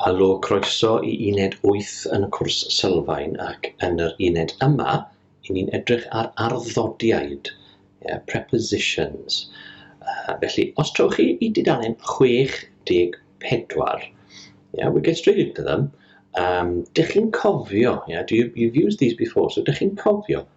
Helo, croeso i uned wyth yn y cwrs sylfaen ac yn yr uned yma i ni'n edrych ar arddodiaid, yeah, prepositions. Uh, felly, os trowch chi i dudalen 64, yeah, we get straight into them, um, dych chi'n cofio, yeah, do you, you've used these before, so dych chi'n cofio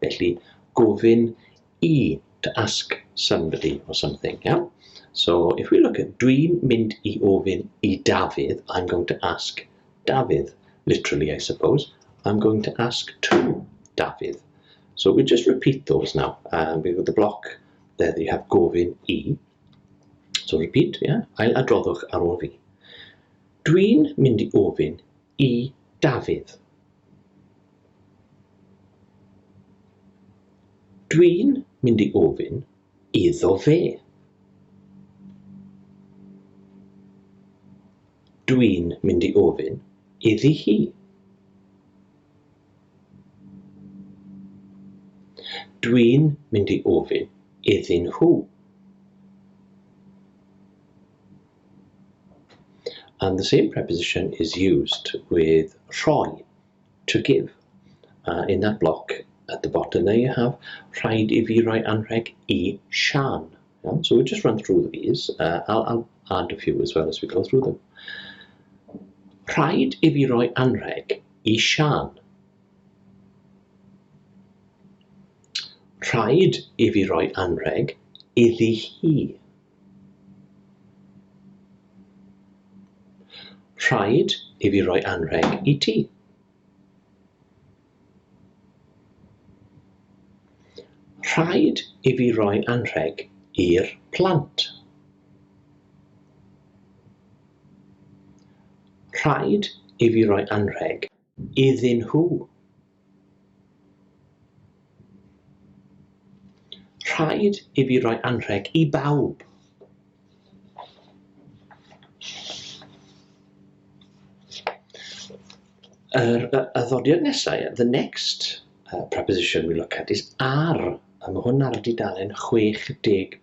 Felly, gofyn i, to ask somebody or something, iawn? So, if we look at, dwi'n mynd i ofyn i Dafydd, I'm going to ask Dafydd, literally I suppose, I'm going to ask to Dafydd. So we just repeat those now. Um, we've got the block there that you have gofyn i. So repeat, yeah? Ail adroddwch ar ôl fi. Dwi'n mynd i ofyn i Dafydd. Dwi'n mynd i ofyn iddo fe. Dwi'n mynd i ofyn iddi hi. Dwi'n mynd i ofyn iddyn nhw. And the same preposition is used with rhoi, to give. Uh, in that block at the bottom there you have rhaid i fi roi anrheg i Sian. Yeah? So we'll just run through these. Uh, I'll, I'll add a few as well as we go through them. Rhaid i fi roi anrheg i Sian. Rhaid i fi roi anrheg iddi hi. Rhaid i fi roi anrheg i ti. Rhaid i fi roi anrheg i'r plant. Rhaid i fi roi anrheg iddyn nhw. Rhaid i fi roi anrheg i bawb. Yr y, y ddodiad nesau, the next uh, preposition we look at is ar, a mae hwn ar dudalen 65.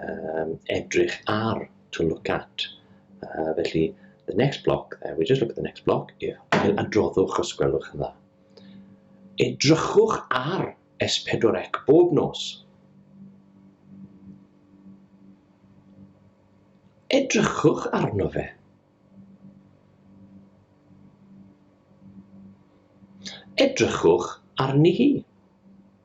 um, edrych ar, to look at. Uh, felly, the next block there, we just look at the next block, yw ail adroddwch os gwelwch yn dda. Edrychwch ar S4C bob nos. Edrychwch arno fe. Edrychwch arni hi.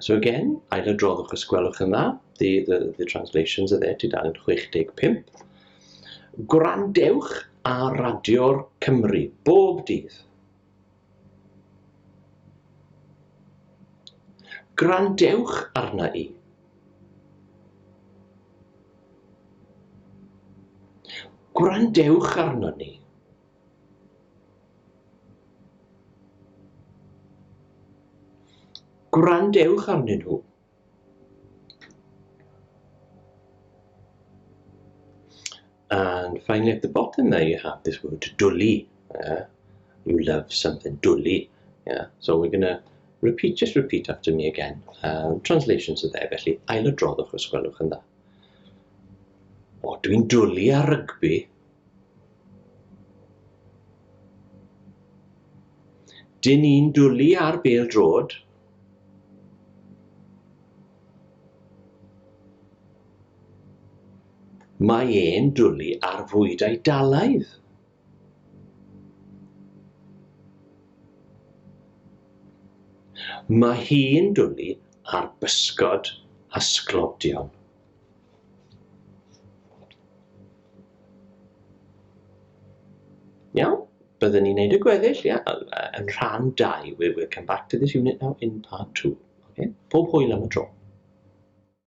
So again, ailadroddwch os gwelwch yn dda. The, the, the translations are there, tudalen 65. Gwrandewch a radio'r Cymru bob dydd. Gwrandewch arna i. Gwrandewch arno ni. Gwrandewch arnyn nhw. And finally at the bottom there you have this word dwli. Yeah? You love something dwli. Yeah? So we're going to repeat, just repeat after me again. Um, translations are there, felly ail y droddwch os gwelwch yn dda. O, dwi'n dwli ar rygbi. Dyn ni'n dwlu ar bêl droed. Mae e'n dwlu ar fwyd Eidalaidd. Mae hi'n dwlu ar bysgod a sglodion. Iawn, byddwn ni'n neud y gweddill, ia, yn rhan 2. We'll, we'll come back to this unit now in part 2. Okay? Pob hwyl am y tro.